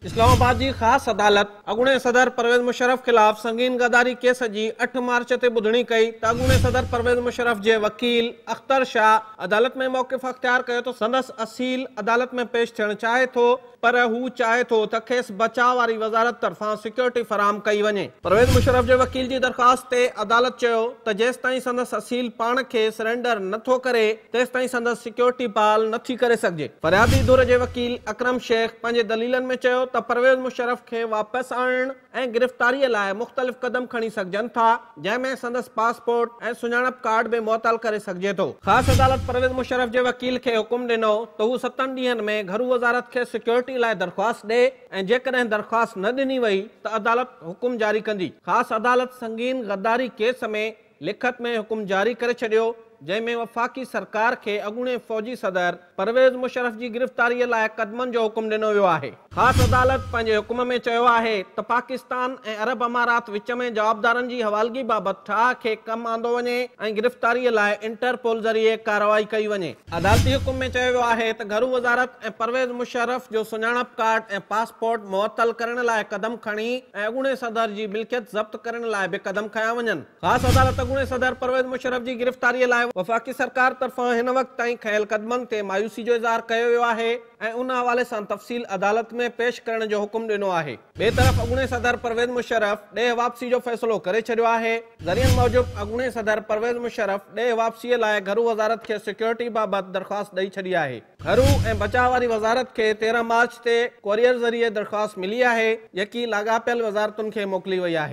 اسلام آباد جي خاص عدالت اڳوڻي صدر پرويز مشرف خلاف سنگين غداري ڪيس جي اٺ مارچ تي ٻڌڻي ڪئي ته اڳوڻي صدر پرويز مشرف جي وڪيل اختر شاهه عدالت ۾ موقف اختيار ڪيو ته سندس اصيل عدالت ۾ پيش ٿيڻ چاهي ٿو پر هو چاهي ٿو ته کيس بچاء واري وزارت طرفان سيڪيورٽي فراهم ڪئي وڃي. پرويز مشرف جي وڪيل جي درخواست تي عدالت چيو ته جيستائين سندس اصيل پاڻ کي سرينڊر نه ٿو ڪري، تيستائين سندس سيڪيورٽي بحال نه ٿي ڪري سگهجي. فريادي ڌر جي وڪيل اڪرم شيخ پنهنجي دليلن ۾ چيو ته پرويز مشرف کي واپس آڻڻ ۽ گرفتاري لاء مختلف قدم کڻي سگهجن ٿا جنهن ۾ سندس پاسپورٽ ۽ سڃاڻپ ڪارڊ به معطل ڪري سگهجي ٿو. خاص عدالت پرويز مشرف جي وڪيل کي حڪم ڏنو ته هو ستن ڏينهن ۾ گهرو وزارت کي سيڪيورٽي لاء درخواست ڏئي ۽ جيڪڏهن درخواست نه ڏني وئي ته عدالت حڪم جاري ڪندي. خاص عدالت سنگين غداري ڪيس ۾ لکت ۾ حڪم جاري ڪري ڇڏيو، جنهن ۾ وفاقي سرڪار کي اڳوڻي فوجي صدر پرويز مشرف جي گرفتاريء لاء قدمن جو حڪم ڏنو ويو آهي. خاص عدالت پنهنجي حڪم ۾ چيو آهي ته پاڪستان ۽ عرب امارات وچ ۾ جوابدارن جي حوالگي بابت ٺاهه کي ڪم آندو وڃي ۽ گرفتاريء لاء انٽرپول ذريعي ڪارروائي ڪئي وڃي. عدالتي حڪم ۾ چيو ويو آهي ته گهرو وزارت ۽ پرويز مشرف جو سڃاڻپ ڪارڊ ۽ پاسپورٽ معطل ڪرڻ لاء قدم کڻي ۽ اڳوڻي صدر جي ملڪيت ضبط ڪرڻ لاء به قدم کنيا وڃن. خاص عدالت اڳوڻي صدر پرويز مشرف جي گرفتاري لاء وفاقي سرڪار طرفان هن وقت تائين کنيل قدمن تي مايوسي جو اظهار ڪيو ويو آهي. ۽ ان حوالي سان تفصيل عدالت ۾ پيش ڪرڻ جو حڪم ڏنو آهي. ٻئي طرف اڳوڻي صدر پرويز مشرف ڏيهه واپسي جو فيصلو ڪري ڇڏيو آهي. ذريعن موجب اڳوڻي صدر پرويز مشرف ڏيهه واپسي لاء گهرو وزارت کي سيڪيورٽي بابت درخواست ڏئي ڇڏي آهي. گهرو ۽ بچاء واري وزارت کي تيرهن مارچ تي ڪوريئر ذريعي درخواست ملي آهي، جيڪي لاڳاپيل وزارتن کي موڪلي وئي آهي.